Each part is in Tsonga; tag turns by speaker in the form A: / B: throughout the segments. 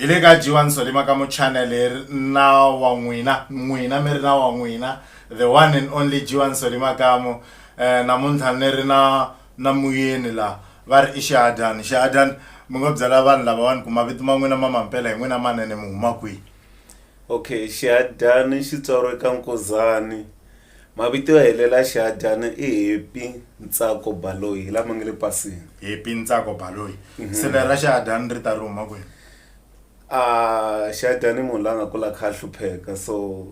A: hi le ka jiwani solima ka muchannel hi ri na wa n'wina n'wina mi ri na wa n'wina the one and only jiwani solima kamo um eh, namuntlha ni ri na na muyeni laha va ri i xihadyani xihadyani mi ngo byela vanhu lavawani ku mavito ma n'wina ma mampela hi n'wina manene mi huma kwihi okay
B: xihadyani xitswaro eka nkuzani Mavito yo helela Xihadyana i Happy Ntsako Baloyi hi lama nga le pasini. Happy Ntsako
A: Baloyi. Sele ra Xihadyana ri ta ri huma kwihi? Xihadyana
B: i munhu la nga kula a kha a hlupheka so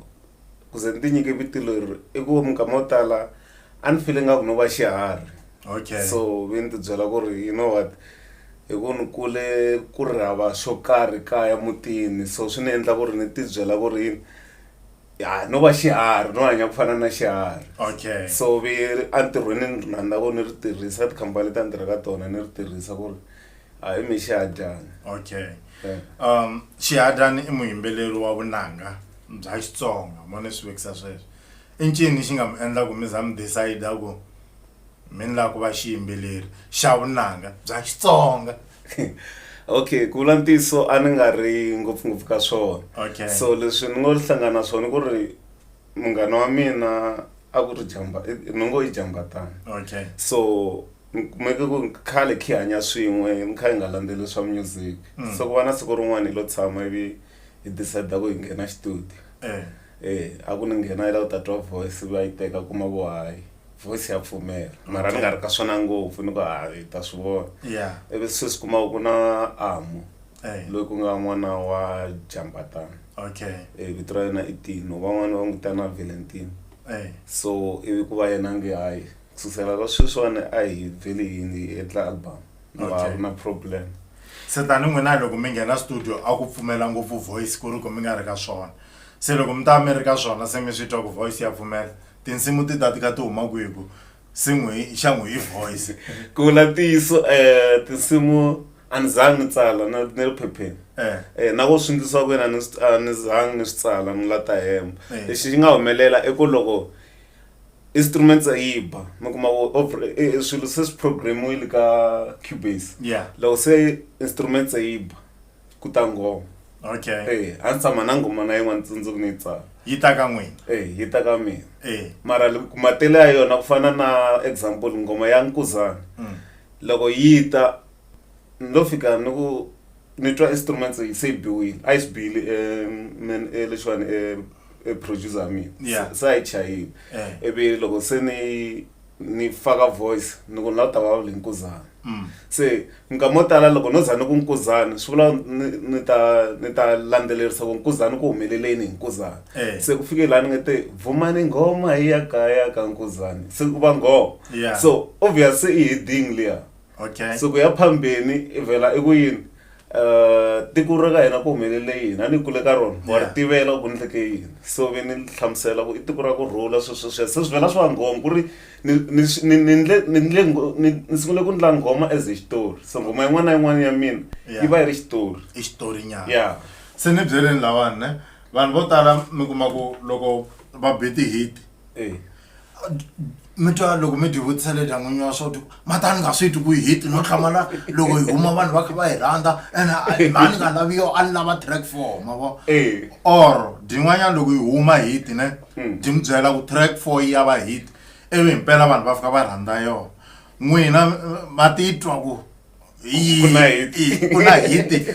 B: ku ze ni ti nyike vito leri i ku minkama yo tala a ni file nga ku no va xiharhi Okay. so
A: ve ni ti byela
B: ku ri you know what hi ku ni kule ku ri hava xo karhi kaya mutini so swi ni endla ku ri ni ti byela ku ri yini. ya no va xiharhi no hanya ku fana na xiharhi okay so vi
A: ri
B: entirhweni ni ri rhandza ku ni ri tirhisa tikhampani leti a ni tirha ka tona ni ri tirhisa ku ri a hi mi xihadyana okay Eh.
A: um xihadyani i muyimbeleri wa vunanga bya xitsonga mo ni swi vekisa sweswo i ncini xi nga mi endla ku mi za mi decide ku mi ni lava ku va xiyimbeleri xa vunanga bya xitsonga
B: okay ku vula ntiyiso a ni nga ri ngopfungopfu ka swona Okay. so leswi
A: ni ngo
B: hlangana na swona ku ri munghana wa mina a ku ri jamba i- ni ngo i jambatana okay so ni kumeke ku khale khi hanya swin'we ni kha hi nga landzeli swa music Mm. so ku va na siku rin'wana hi lo tshama ivi hi decide ku hi nghena xitudio eh eh a ku ni nghena yi la ku ta twa voice ivi a yi teka kuma ku hayi voice ya pfumela mara ni nga ri ka swona ngopfu ni ku ha yi ta swi vona yeah ivi se swi
A: kuma ku
B: na amu hey. loyi ku nga n'wana wa jambatana okay Eh,
A: vito ra yena i
B: tino van'wana va n'wi vitana valentine hey. so ivi ku va yena nge hayi ku susela ka sweswiwani a hi vheli yini hi endla album no a Okay. ku na problem se tani
A: n'wina loko mi nghena studio a ku pfumela ngopfu voice ku ri ku mi nga ri ka swona se loko mi ta va mi ri ka swona se mi swi twa ku voice ya pfumela tinsimu ti ta tika ti huma kwihi ku se n'wi xa n'wi hi voice ku vula ntiyiso
B: um tinsimu a ni zangi ni tsala na ni ri phepheni eh. eh, na ku swingisiwa ku yena a ni zangi ni swi tsala ni la ta hemba eh. lexi xi nga humelela i ku loko instruments a yi ba mi kuma swilo se swi programmiwile ka cubase loko se instruments a yi ba ku ta ngoma okay eh
A: a ndzi tshama na ngoma
B: na yin'wana tsundzuku ni yi tsala yi ta ka n'wina
A: eh yi ta ka mina
B: eh mara li- ku matele ya yona ku fana na example ngoma ya nkuzana mm. loko yi ta ni lo fika ni ku ni twa instruments yi se yi biwile a yi swi biyile em, men- eh, lexiwani eh, eh, producer ya mina Yeah. se a yi chayile eh ivi loko se ni ni faka voice ni ku ni lava ku ta vulavula hi nkuzana Mm. se minkama yo tala loko no za ni ku nkuzana swi vula ni ni ta ni ta landzelerisa ku nkuzana ku humeleleni hi nkuzana Eh. se ku fike laha ni nga te vumani nghoma hi ya kaya ka nkuzana se ku va nghoma Yeah. so obvious
A: se i
B: heading liya okay siku ya
A: phambeni
B: i vhela i ku yini um tiko ra ka hina ku humelele yini a ni kule ka rona wa ri Yeah. tivela ku ku endleke yini so ve ni hlamusela ku i tiko ra ku rhula swesweswiya se swi vhela swi va nghoma ku ri ni ni swi- ni ni ndle ni ndle ngho- ni ni sungule ku ndla nghoma as a xitori so nghoma yin'wana na yin'wana ya mina Yeah. yi va yi ri xitori i xitori nyana ya
A: se ni
B: byeleni
A: lawani ne vanhu vo tala mi kuma ku loko va be ti-hit e mi twa loko mi tivutisa le dyangwini wa swa ti matani nga swi twi ku hit no hlamala loko hi huma vanhu va kha va hi rhandza and laha ni nga laviyo a ni lava track four ma vo eh. or din'wanyana loko hi huma hit ne hmm. di mi byela ku track four yi ya va hit ivi himpela vanhu va fika va rhandza yona n'wina va titwa ku yi ku na hit. yi- ku na hiti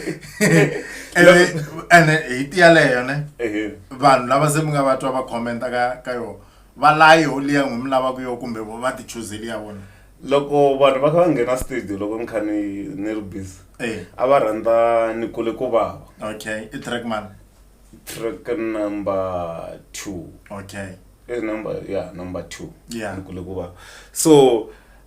A: ene hiti yaleyo ne Ehe. vanhu lava se mi nga va twa va commenta ka ka yona va layi ho liya n'wi mi lavaka yo kumbe vo va tichuzeli ya vona loko vanhu va
B: kha va nghena studio loko ni kha ni ni ri busy Eh. a va rhandza ni kule ku vava okay i track
A: man track
B: number two okay i
A: number yeah
B: number two Yeah. ni kule ku
A: vava
B: so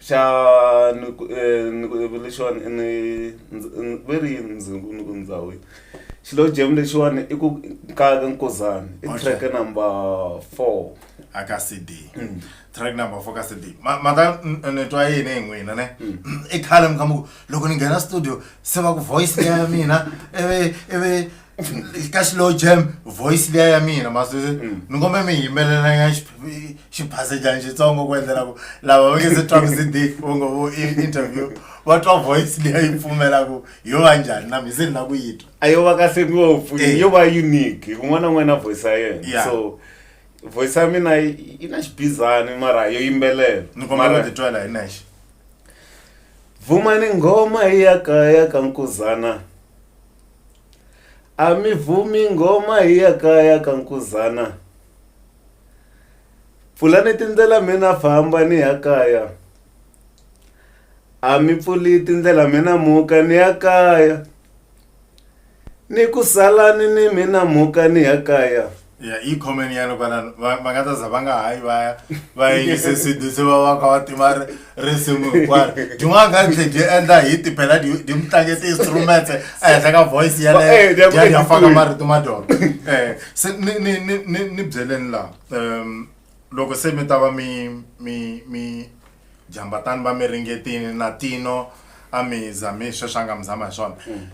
A: xa
B: ni ku eh, ni ku eh, lexiwani i ni ndz- n- ve ri yini ndzi ku ni ku ndhawu yi xilo jam lexiwani i ku nkaka nkozani i Okay. track number four aka cd
A: Mm. track number four ka cd Ma- maka n- ni twa yini hi n'wina ne i khale mi kamba ku loko ni nghena studio se va ku voice leya ya mina ivi ivi ka slow jam voice liya ya mina masweswi mm. ni kombe mi yimelelanya xiphasejani xitsongo ku endlela ku lava va nge se twaku cd u ngo vo interview va twa voice liya yi pfumelaku yo va njhani na mi se ni la ku yi twa a yo va kahle ngopfu
B: eh. yo va unique un'wana na un'wana na voice ya yena so voice ya mina yi na xibizani mara yo yimbelela ni kombe ku titwela
A: hi nexe
B: vumani nghoma yi ya kaya ka nkuzana A mi vhumi nghoma hi ya kaya ka nkuzana pfulani tindlela mi na famba ni ya kaya a mi pfuli tindlela mi na muka ni ya kaya ni ku salani ni mina muka ni ya kaya. ya i comment
A: ya loko na va nga ta za va nga hayi va ya va yingise sidi se va va ka va tima risimu hinkwaro tin'wana nga tlhe dyi endla hi tipela dyi mi tlange ti-instrument ehenhla ka voice yaleya faka marito ma dyona um se ni ni ni ni ni byeleni laha um loko se mi ta va mi mi mi jambatani va mi ringetini na tino a mi zami sweswi a nga mi zama hi swona mm.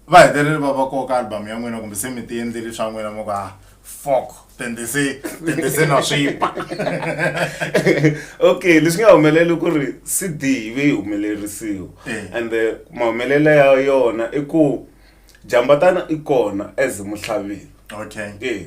A: va hetelele va va koka album ya n'wina kumbe se mi ti endleli swa n'wina mo ka fok tende se tende se na swipa
B: okay leswi nga humelela ku ri cd yi ve yi humelerisiwa Eh. and eh, mahumelela ya yona i ku jambatana i kona as muhlaviwi okay Eh,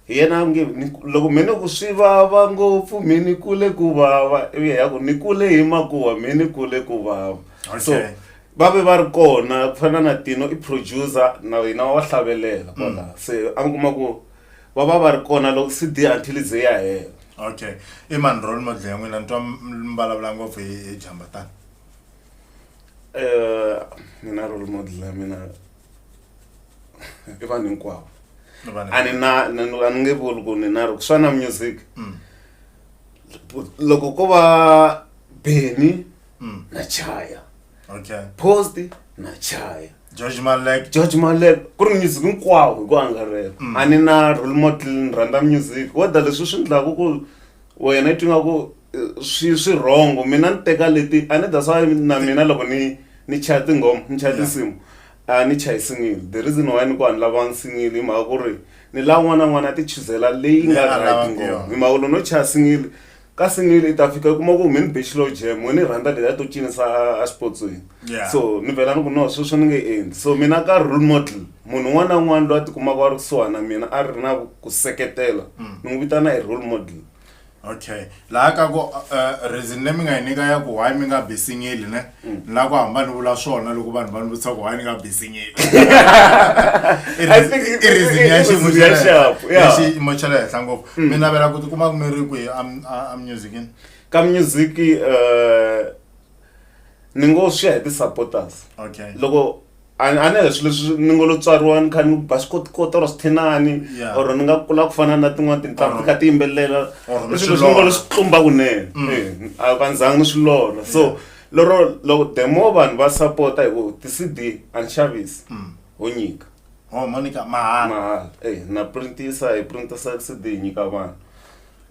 A: hi
B: yena a nge ni- loko mi ni ku swi vava ngopfu mi ni kule ku vava ivi ya ku ni kule hi makuwa mi ni kule ku vava so Okay. va ve va ri kona ku fana na tino i producer na yena wa hlavelela kwala mm. se a ni kuma ku va va va ri kona loko cd until ze ya hela okay i
A: mani role model ya n'wina ni twa mi vulavula ngopfu hi jamba tani um
B: eh, mina role model ya mina i vanhu hinkwavo a ni na a ni nge vuli ku ni na ri ku swa na music mm. loko ko va beni Mm. na chaya okay
A: post
B: na chaya george malek
A: george malek ku ri
B: music hinkwawo hi ku angarhela Mm. a ni na role model ni rhandza music weda leswi swi endlaku ku wena i twi nga ku eh, swi swi wrong mina ni teka leti a ni that's why na mina loko ni ni chaya tinghoma ni chaya Yeah. tinsimu a ni chayi single the reason why ni ku a ni lavanga single hi mhaka ku ri ni lava n'wana n'wana a ti chuzela leyi Leyi nga a right lavaka ngoma yona. hi mhaka ku loko no chaya single ka single leyi ta fika u kuma ku me ni be xilo jam we ni rhandza leya to cinisa a- a xipotsweni Yeah. so ni vhela ni ku no sweswo ni nge endli so mina ka role model munhu un'wana na un'wana loyi a tikumaka a ri kusuhani na mina a ri na ku- ku seketela Mm. ni n'wi vitana hi role model okay
A: laha ka ku uh, reason leyi mi nga yi nyika ya ku why mi nga be singile ne ni lava ku hamba ni vula swona loko vanhu va ni vutisa ku why ni nga bizinyile
B: I think it- i reason ya it- xiyimo it- xa
A: le sharp, henhla. yeah. Ya
B: xiyimo xa le
A: henhla ngopfu mi navela ku tikuma ku mi ri kwihi am- a- a musicini ka music
B: eh, ni ngo swi ya hi ti-supporters okay loko
A: a ni
B: a ni leswi leswi ni ngo lo tswariwa ni kha ni ba swikotikoti or swithinani Yeah. or ni nga kula ku fana na tin'wana tintanghu Or- ti kha ti yimbelela or ni leswi swi leswi ni ngo lo lorha. swi tlumba kunene Eh, a va ndzanga ni swi lorha so lero loko the more vanhu va sapota hi ku ti-cd a ni xavisi ho nyika ho monica
A: mahala mahala eh na printisa
B: hi printisa cd hi nyika vanhu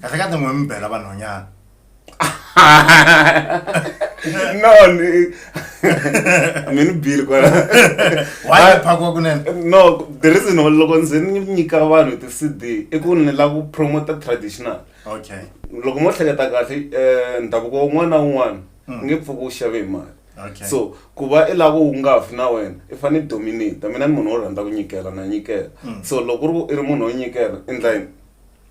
B: kahle kahle n'we
A: mi bela vanhwanyana
B: no ni- I mean bill kwala why
A: phakwa kunene no the reason
B: why loko ndzi ni nyika vanhu ti cd i ku ni lava ku promota traditional okay
A: loko mo hleketa
B: kahle eh, ndhavuko wun'wana na wun'wana Mm. nge pfuki wu xave hi mali okay so ku
A: va i
B: lava wu nga fi na wena i fanele i dominate mina ni munhu wo rhandza ku nyikela na nyikela Mm. so loko u ri ku i ri munhu wo nyikela endla yini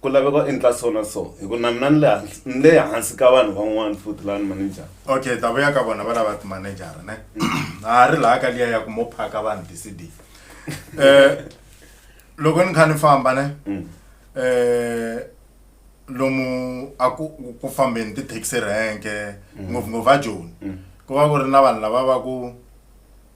B: ku laveka u endla so na so hi ku na mina ni le hansi- ni le hansi ka vanhu van'wana futhi laha ni manejara okay hi ta vuya ka vona
A: va lava timanejara ne a ha ri laha ka liya ya ku mo phaka vanhu ti-cd um loko ni kha ni famba ne um lomu a ku ku fambeni ti-taxi renke ngopfungopfu a joni ku va ku ri na vanhu lava va ku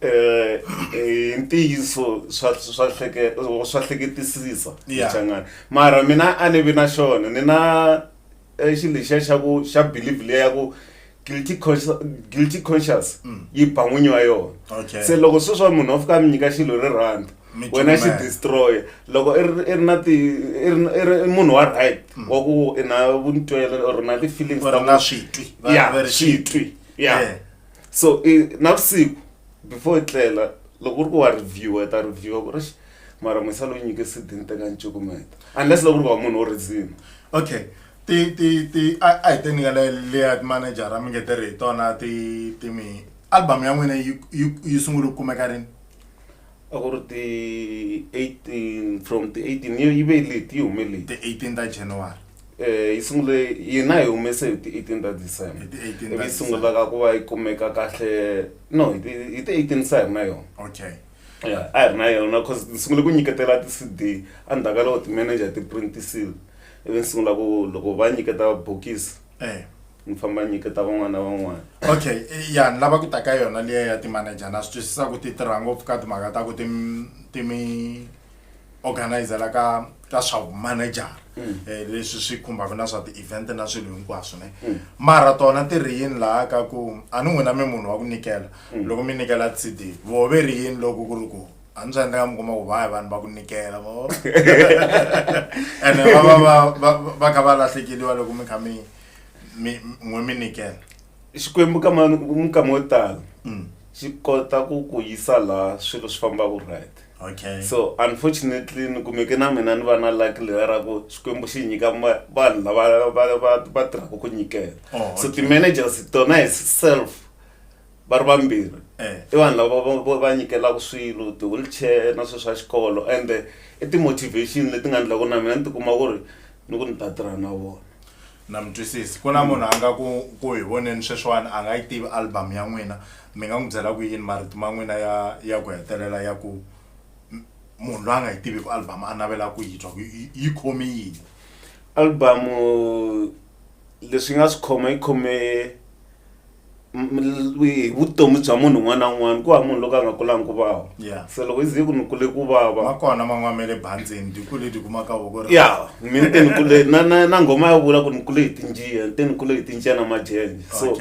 A: eh,
B: eh, hi ntiyiso swa swa hleke swa hleketisisa Yeah. changana mara mina a ni vi na xona ni na eh, xilo lexiya xa ku xa believe leya ya ku guilty conscious, guilty conscious yi ba n'winyi wa yona Mm. Okay. se loko sweswi wa munhu wa fika a mi nyika xilo ri rhandza Mi wena xi cukumela. destroya loko i ri i ri na ti i ri i ri munhu wa right wa ku i na vuntwela or na ti-feelings Mm. Or ta ku- na switwi.
A: Va- Yeah, va ri switwi. Yeah. Yeah.
B: so i navusiku before i tlela loko u ri ku wa reviewa i ta reviewa ku ri "Eish, mara musa loyi nyike sidi ni teka ni cukumeta unless loko u ri ku wa munhu wo rhizima okay
A: ti ti ti a a hi te nyika le leya manejara mi nge tirhi hi tona ti ti mi album ya n'wina yi yi yi sungule ku kumeka rini a ku
B: ri ti 18 from ti 18 yi yi ve leti yi hume leti ti 18 ta january
A: eh yi sungule
B: yina hi humese hi ti 18 ta december Hi ti 18 ta ivi yi sungula ka ku va yi kumeka kahle no hi ti hi ti 18 sa hi ri na yona okay
A: Yeah, a hi ri
B: na yona cause ni sungule ku nyiketela ti-cd endzhaku ka loko ti-manager ti printisile ivi ni sungula ku loko va nyiketa bokisi eh ni famba nyiketa van'wana na van'wana okay eh, ya
A: ni lava ku ta ka yona liya ya timanager na swi twisisa ku ti tirha ngopfu ka timhaka ta ku ti ti mi organizela ka ka swa manager mm. eh leswi swi khumbaka na swa ti-event na swilo hinkwaswo ne mm. mara tona ti ri yini laha ka ku a ni n'wina mi munhu wa ku nyikela mm. loko mi nyikela cd vove ri yini loko ku ri ku a ndzi endla ka mi kuma ku vaya vanhu va ku nikela mo ene va va va va va kha va lahlekeliwa loko mi kha mi mi n'we mi nikela xikwembu ka
B: mani minkama yo tala Mm. xi kota ku ku yisa laha swilo swi fambaka right okay so
A: unfortunately
B: ni kumeke na mina ni va na luck leya ra ku xikwembu xi nyika ma- vanhu lava va- va- va tirhaka ku nyikela Oh, so okay. ti-managers tona hi self va ri vambirhi eh. i vanhu lava va nyikelaka swilo ti-wheelchair na swilo swa xikolo ende i ti-motivation leti nga endlaku na mina ni tikuma ku ri ni ku ni ta tirha na vona na mi twisisi
A: ku na mm. munhu a nga ku ku hi voneni sweswiwani a nga yi tivi album ya n'wina mi nga n'wi byela ku yini marito ma n'wina ya ya ku hetelela ya ku munhu loyi a nga yi tivi ku album a navela ku yi twa ku yi khome yini album
B: leswi nga swi khoma yi khome vutomi bya munhu un'wana na un'wana ku va munhu loko a nga kulangi ku vava se loko ize ku ni kule ku vava va kona man'wana ma le
A: bandzeni ti kule ti kuma ka voko ya mi ni te ni kule
B: na na na nghoma ya vula ku ni kule hi tinjiya ni te ni kule hi tinjiya na majenje so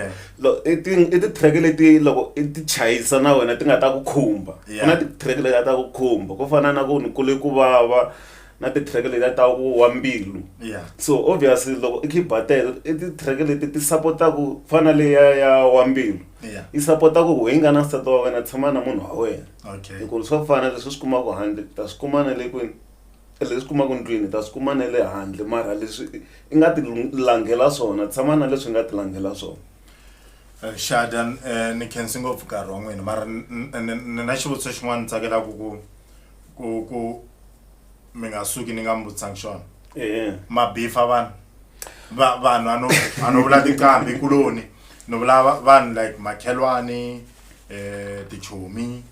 B: i ti i ti-track leti loko i ti chayisa na wena ti nga ta ku khumba ku na ti-track leti nga ta ku khumba ku fana na ku ni kule ku vava na ti-track letiya ta ku wa mbilu Yeah. so obviously loko i khiba teto i ti-track leti ti sapotaku fana leya ya wa mbilu Yeah. yi sapotaku ku hi nga na nsati wa wena tshama na munhu wa wena Okay. hikuva swa fana leswi swi kumaka handle ta swi kuma na le kwini leswi kumaka ndlwini ta swi kuma na le handle mara leswi i- i nga ti lung- langela swona tshama na leswi nga ti langela swona Eh,
A: Shada eh, ni khensi ngopfu nkarhi wa n'wina mara n- n- n- ni na xivutiso xin'wana ni tsakelaka ku ku ku mi nga suki ni nga mi vutisanga xona eh. mabifa vanhu vanhu ano ano vula tinqambi kuloni ni vula vanhu like makhelwani eh tichomi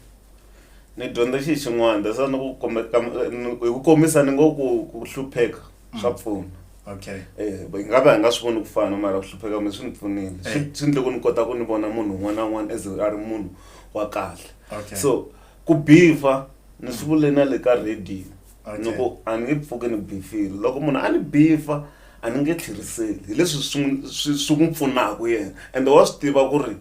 B: ni dyondza xi xin'wana that's ni ku kombeka hi ku kombisa ni ngo ku ku hlupheka mm. swa pfuna okay
A: eh hi nga va hi
B: nga swi voni ku fana mara ku hlupheka mi swi ni pfunile eh. swi ndle ku ni kota ku ni vona munhu un'wana na un'wana as a ri munhu wa kahle so Ku beef-a ni swi vule na le ka radio ni ku a ni nge pfuki ni beef-ile loko munhu a ni beef-a a ni nge tlheriseli hi leswi swi n'wi swi swi n'wi pfunaka yena ende wa swi tiva ku ri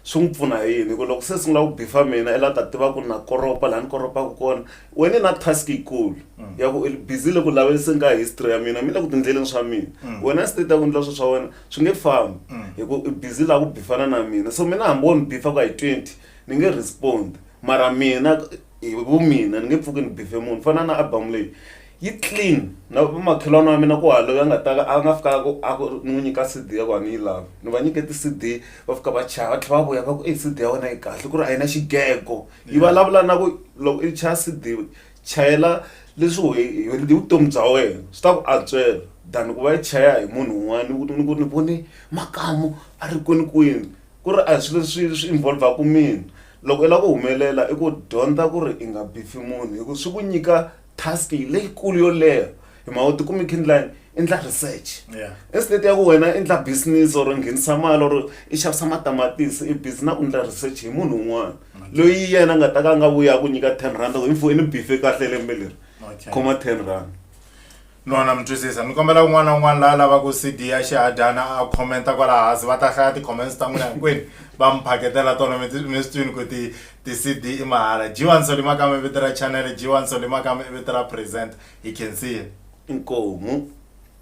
B: swi n'wi pfuna hi yini hi ku loko se sungula ku beef-a mina i la ta tiva ku na koropa laha ni koropaka kona wena i na task yikulu ya ku i busy le ku laviseni ka history ya mina mi le ku tiendleleni swa mina wena se ta ku endla swilo swa wena swi nge fambi hi ku i busy laha ku beef-ana na mina so mina hambi wo ni beef-a ku ya hi twenty Ni nge respond mara mina hi vumina ni nge pfuki ni beef-e munhu fana na album leyi yi clean na va makhelwani wa mina ku hava loyi a nga ta a nga fika a ku a ku ni n'wi nyika C_D ya ku a ni yi lavi ni va nyike ti-C_D va fika va chava va tlhela va vuya va ku ey C_D ya wena yi kahle ku ri a yi na xigego yi vulavula na ku loko i chaya C_D chayela leswi wehe hi hi vutomi bya wena swi ta ku antswela than ku va yi chaya hi munhu un'wana ni ku ni ku ni vone makamu a ri kwinikwini. Ku ri a hi swilo leswi swi involve-aka mina. Loko i lava ku humelela i ku dyondza ku ri i nga bifi munhu hi ku swi ku nyika task leyikulu yo leha hi mhaka u tikuma i kha i endla yini, i endla research. Yeah. Instead ya ku wena i endla business or i nghenisa mali or i xavisa matamatisi i busy na ku endla research hi munhu un'wana loyi yena a nga ta ka a nga vuyi a ku nyika ten rhandi a ku hi mfo ni bife kahle lembe leri, Okay. khoma ten rhandi. Nwana mi
A: twisisa. Ni kombela un'wana na un'wana la a lavaku CD ya Xihadyana a comment-a kwala hansi. Va ta hlaya ti-comments ta n'wina hinkwenu va mi phaketela tona. Mi mi swi twini ku ti ti-CD i mahala. G1 Solly Makama i vito ra chanele, G1 Solly Makama i vito ra presenter. Hi khensile. Inkomu.